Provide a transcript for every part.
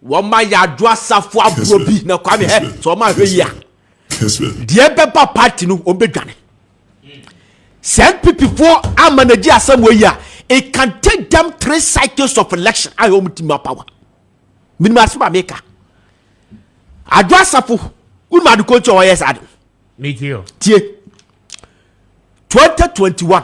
Wɔn ma yɛ ado asafo agorɔ bi na kwame hɛ sɛ wɔn ahwɛ yi a deɛ bɛba party no wɔn bɛ dwane sɛ npp foɔ ama na gye asɛm wɔ yi a it can take them three cycles of election a wɔn ti ma power minimum asem a meka ado asafo wɔn ma ado kɔntu a wɔyɛ saa ado tie twenty twenty one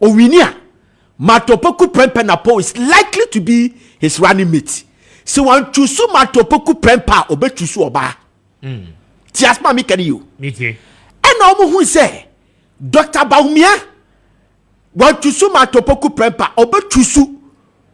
owini a, Mato Poku Prempeh Napoh is likely to be his running mate. Sɛ wɔn chusu Mato Poku Prempeh a, ɔbɛ chusu ɔbaa. Mm. Ti asma mi kani yo. Mi ti. Ɛna wɔn hu sɛ Dr. Bawumia wɔn chusu Mato Poku Prempeh a, ɔbɛ chusu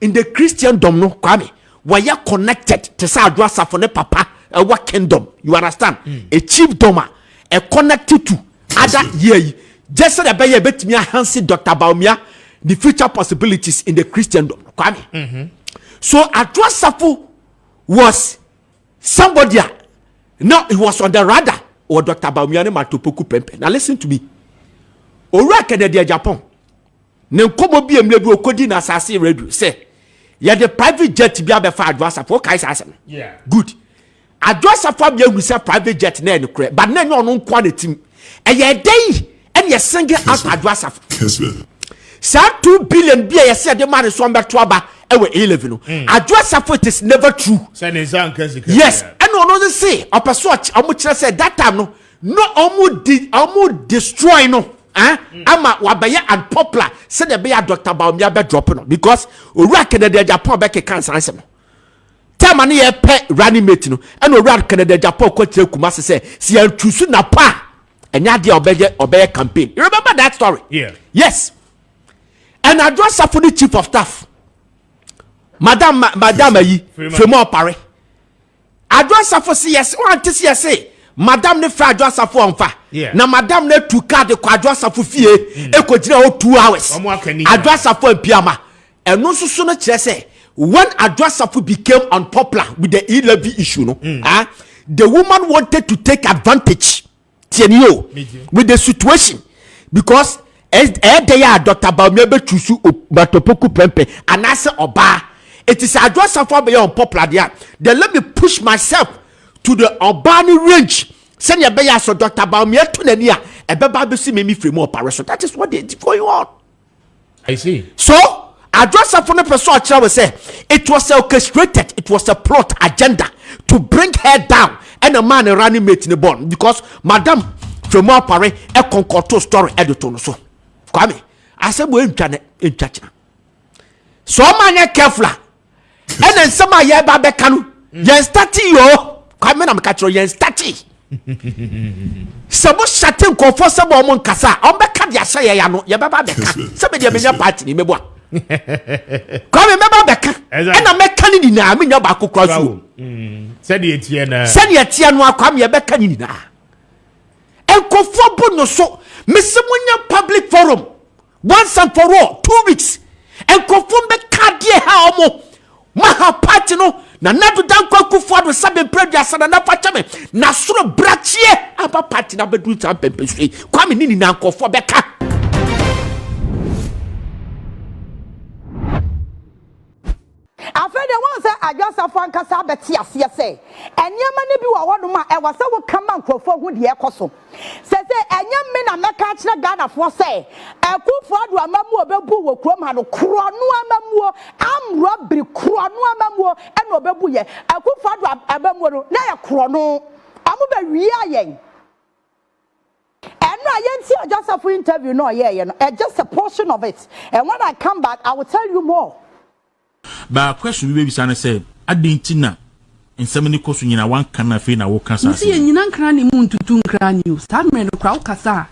Ndɛ Christendom no Kwame wɔayɛ connected te sɛ Adwo Asafo ne Papa ɛwɔ Kingdom you understand a chiefdom a ɛ connected to other year yi gyɛ sɛdeɛ ɛbɛyɛ ɛbɛtumi ahansi Doctor Bawumia ne future possibilities in the Christendom no Kwame mm-hmm. so Adwo Asafo was somebody a now he was on the radar wɔ Doctor Bawumia ne Matopoku pɛmpɛ na listen to me owura kɛdɛdeɛ Japan. Ne nkɔmmɔ bi a mmerɛ bi ɔkɔdi no asase radio sɛ yɛde private jet bi abɛfa adwo asafo wokae saa asɛm good adwo asafo abea hu sɛ private jet na ɛne korɛ but na ɛnyɛ ɔno nkoa na tim ɛyɛ ɛdɛ yi ɛne yɛsenge out adwo asafo saa 2 billion bi a yɛsɛ yɛde ma ne so ɔmbɛto aba ɛwɔ A-level no mm. adwo asafo it is never true yes ɛne ɔno se ɔpɛ so ɔmo kyerɛ sɛ that time no No ɔmo di ɔmo destroy no eh mm. ama wabɛyɛ unpopular sɛdeɛ ɛbɛyɛ a dr baomia bɛ drop no because owura kennedy agyapɔn bɛkeka nsansɛm no tɛma no yɛpɛ running mate no ɛna owura kennedy agyapɔn kɔkyerɛ kuma se sɛ si yɛntu so na pa a ɛnyɛ adeɛ a ɔbɛyɛ ɔbɛyɛ campaign you remember that story yeah. yes ɛna adwo asafo ne chief of staff madam madam ayi firimu ɔpare. Adwo Asafo se yɛse wante se yɛse madam no frɛ Adwo Asafo ɔmfa yeah. na madam no atu kaa de kɔ Adwo Asafo fie mm. ekogyina hɔ 2 hours Adwo Asafo ampiama ɛno nso so no kyerɛ sɛ when Adwo Asafo became unpopular with the e-levy issue no mm. ah, the woman wanted to take advantage tiɛ ni o with the situation because ɛyɛ dɛ yɛ a dɔkta baomia bɛ tusu o matopoku pɛmpɛ anaasɛ ɔbaa eti sɛ adwo asafo abɛyɛ unpopular deɛ a then let me push myself to the ɔbaa ne range sɛnea ɛbɛyɛ asɔ dɔkta baomia to n'ani a ɛbɛba abɛsi mi mi firi mu ɔpare so that is what they going on. so adwasafo no pɛ sɛ ɔkyerɛ wo sɛ it was orchestrated it was a plot agenda to bring her down ɛna maa ne running mate ne bɔɔl because madam twɛmu apare ɛkɔnkɔto story ɛde to no so kwame asɛm wɔ ɛntwa ne ɛntwa kyena so ɔma nyɛ careful a ɛna nsɛm a yɛreba bɛka no yɛn stati yɛ o kwame na meka kyerɛ yɛn stati sɛ mo hyɛte nkɔfoɔ sɛ bɔ ɔmo nkasa a ɔmo bɛka de ahyɛ yɛn ano yɛbɛba bɛka sɛ bɛdeɛ menya paati ne mɛbɔ a kwame mɛba bɛka ɛna mɛka ne nyinaa menya baako kora so mm. sɛdeɛ tiɛ no sɛdeɛ tiɛ no akwame yɛbɛka ne nyinaa nkɔfoɔ bo no so mesɛ monya public forum Once and for all, two weeks, nkurɔfoɔ mbɛka adeɛ ɛha wɔn mo aha party no, Nana Addo Dankwa Akufo Addo nsa bɛmpire aduasa, Nana fa kyɛ me, na soro brakyeɛ aba party no abɛduru saa mpɛmpɛnsuo yi, Kwame ne nyinaa nkurɔfoɔ bɛka. Afei deɛ, woahu sɛ adwensafo ankasa abɛte aseɛ sɛ nneɛma no bi wɔ hɔnom a ɛwɔ sɛ woka ma nkurɔfoɔ hu deɛ ɛrekɔ so. Seesei, ɛnyɛ me na mɛka akyerɛ Ghanafoɔ sɛ Akuffo Addo amammuo a ɔbɛbuu wɔ kurom ha no, korɔno amammuo, armed robbery, korɔno amammuo na ɔbɛbuiɛ. Akuffo Addo amammuo no, na ɛyɛ korɔno. Wɔbɛwiaa yɛn. Ɛno a yɛntie Ɔgyasafo interview no a ɔyɛeɛ no, ɛ just a portion of it and when I come back I will tell you more. But question bi bɛbisa ne sɛ, adɛn nti na nsɛm no kɔ so nyinaa woanka no afei na woka saa Mese asɛm yi? yɛnyina nkra ne mu ntutu nkra ne o, saa mmerɛ no koraa wokasa a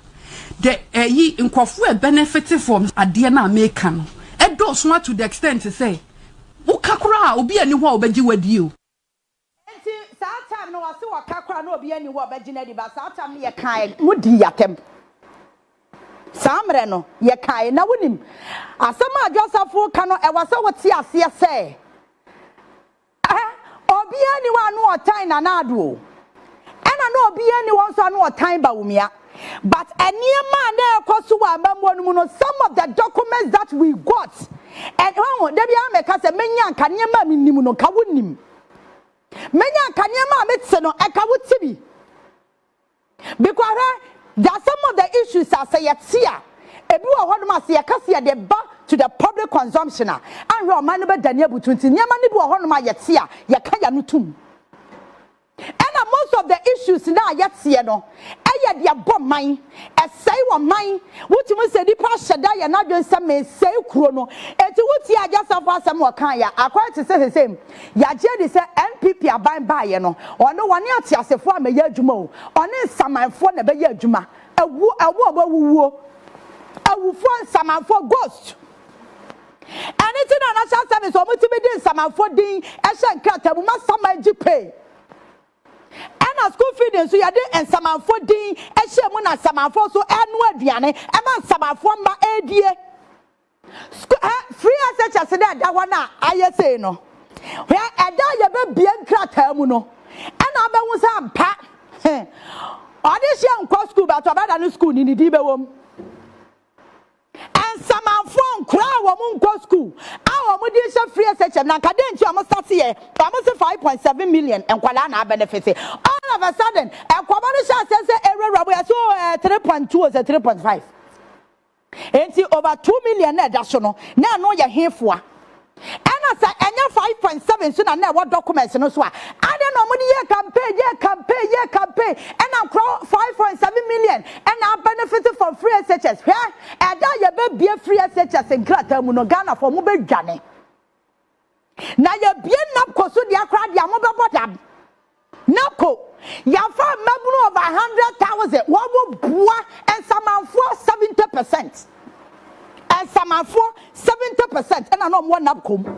the ɛyi nkurɔfoɔ ɛ benefit from adeɛ no a meka no ɛdɔɔso ara to the extent sɛ woka koraa a obi a ɛni hɔ a ɔbɛgye wo adie o. Enti saa time no ɔse wɔka koraa na obiara nni hɔ a ɔbɛgye no adi but saa time no yɛkae mo dii yɛatɛm saa mmerɛ no yɛkae na wonim asɛm a Adwo Asafo reka no ɛwɔ sɛ wote aseɛ sɛ eh obiara nni hɔ a na ɔtan Nana Addo o ɛna na obiara nni hɔ nso a na ɔtan Bawumia. But nneɛma a na ɛrekɔ so wɔ amammuo no mu no, some of the documents that we got, and wahu, da biara mɛka sɛ mɛnya nka nneɛma a menim no nka wonim. Mɛnya nka nneɛma a mete no ɛka wote bi. Because hwɛ, there are some of the issues a sɛ yɛte a, ebi wɔ hɔnom a sɛ yɛka sɛ yɛde ba to the public consumption a, anhwɛ ɔman no bɛdane abutu nti nneɛma no bi wɔ hɔnom a yɛte a, yɛka yɛano tom. Ɛna most of the issues no a yɛteɛ no ɛyɛ de ɛbɔ man, ɛsɛe ɔman, wotumi sɛ nipa ahyɛ da yɛ n'adwene sɛ mesɛe kuro no, enti wotie Agyasafo asɛm a ɔkaeɛ a akɔyɛ te sɛ seisei yɛagye adi sɛ NPP aban baeɛ no ɔno ɔne ateasefoɔ ammɛyɛ adwuma o, ɔne nsamanfoɔ na ɛbɛyɛ adwuma, awuo, wɔn a wɔawuwuo, awufoɔ, nsamanfoɔ, ghost. Ɛno nti na National Service wɔn tumi de nsamanfoɔ din hyɛ nkrataa mu ma saman gye pay. Ɛna school feed nso yɛde nsamanfoɔ din hyɛ mu na nsamanfoɔ nso ɛno aduane ɛma nsamanfoɔ mma ɛredie. School ɛ free SHS na ɛda hɔ na ayɛ sei no. Hwɛ ɛda yɛbɛbie nkrataa mu no ɛna abɛhu sɛ ampa he ɔde hyɛ nkɔ school but ɔbɛda no school ni ne din bɛwɔ mu. Nsamanfoɔ nkoraa a wɔn nkɔ sukuu a wɔn de rehyɛ free SHM na nka dɛn nti wɔn start yɛ wɔn se five point seven million nkwadaa na abɛnɛfete all of a sudden ɛkɔmɔ no hyɛ aseɛ sɛ ɛwurawura mu yɛse oh ɛɛ three point two ɔsɛ three point five enti over two million na ɛda so no na ɛno yɛ hefoa Ɛna sɛ ɛnyɛ five point seven so na na ɛwɔ documents no so a, adɛn na wɔde yɛɛ campaign, yɛɛ campaign, yɛɛ campaign, ɛna nkorɔ five point seven million ɛna a benefit from free SHS. Hwɛ, ɛda a yɛbɛbue free SHS nkrataa mu no, Ghanafoɔ mobɛdwane. Na yɛbue NABCO so deɛ koraa deɛ a mobɛbɔ dam. Na mpo, yɛafa mmabunu over a hundred thousand, wɔboa nsamanfoɔ seventy percent. Nsamanfoɔ seventy percent na na wɔwɔ NABCO mu.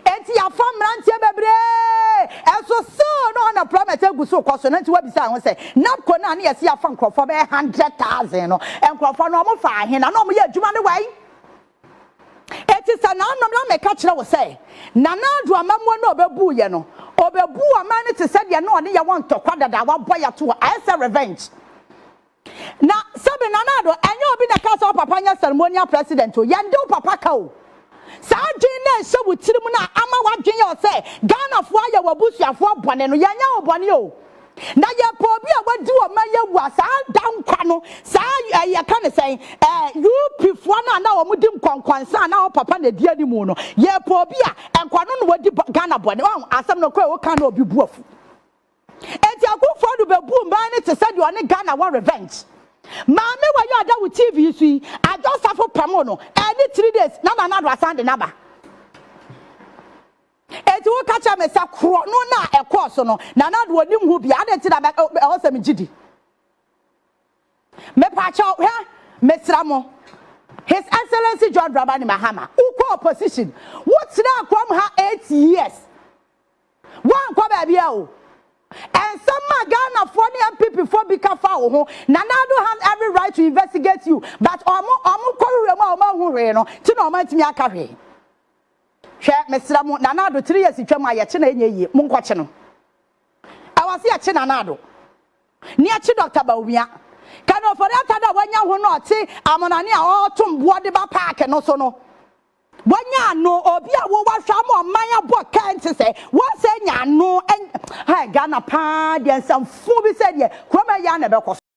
Enti yɛafa mmeranteɛ bebree, nso still na unemployment gu so rekɔ so. Na nti woabisa ho sɛ, NABCO no a na yɛse yɛafa nkurɔfoɔ bɛyɛ hundred thousand no, nkurɔfoɔ no wɔfaa he na na wɔyɛ adwuma no wɛn? Eti sɛ naanom na meka kyerɛ wo sɛ, Nana Addo amammuo no a ɔbɛbuu yɛ no, ɔbɛbuu ɔman no te sɛ deɛ na ɔne yɛ wɔ ntɔkwa dada a wabɔ yɛ ato hɔ, ayɛ sɛ revenge. Na sɛbe Nana Addo, ɛnyɛ obi na ɛkaa sɛ wo papa nyɛ ceremonial president o, yɛnde wo papa ka o. Saa adwene no a ɛhyɛ wo tirim no a ama w'adwene yɛ wo sɛ Ghanafoɔ ayɛ w'abusuafoɔ bɔne no, yɛnyɛɛ wo bɔne o. Na yɛpɛ obi a wadi wɔn ma Yehowa saa daa nkwa no, saa ɛɛ yɛka ne sɛn ɛɛ UP foɔ no a na wɔn di nkɔnkɔnsa a na wɔn papa na edi anim no, yɛpɛ obi a nkwa no na wadi bɔ Ghana bɔne. Wɔn asɛm no kora woka na obi bu afu. Eti Akufo Addo bebu mmaa no te sɛ deɛ ɔne Ghana wɔ revenge. Maame wɔ yi a ɔda wo TV yi so yi, Adwo Safo pamoo no ɛɛ ne three days na Nana Addo asan de no aba. Enti woka kyerɛ me sɛ korɔno no a ɛkɔɔ so no, na na deɛ ɔnim ho biara, adɛn nti na ɛwɔ sɛ megye di? Mepaakyɛw, hwɛ, mesrɛ mo, His Excellency John Dramani Mahama, wokɔɔ opposition, wotenaa akoam ha eight years, woankɔ baabiara o. Nsɛm a Ghanafoɔ ne NPPfoɔ bi ka fa wo ho, Nana Addo has every right to investigate you, but wɔn wɔn kɔhwehwɛ mu a wɔanhu hwee no nti na wɔantumi anka hwee. Hwɛ mesrɛ mo nana ado three years twam a yɛkye no a ɛnyɛ yie mo nkɔkye no ɛwɔ se yɛkye nana ado ne yɛkye Doctor Bawumia kane ofori ata do a wanya ho na ɔte amonane a ɔretom boɔ de ba park no so no wanya ano obi a wo wahwɛ ama ɔman abɔ kɛn te sɛ wɔsɛ nya ano ɛn hɛ Ghana paa deɛ nsɛmfo bi sɛ deɛ kuroma yɛ a na ɛbɛkɔ so.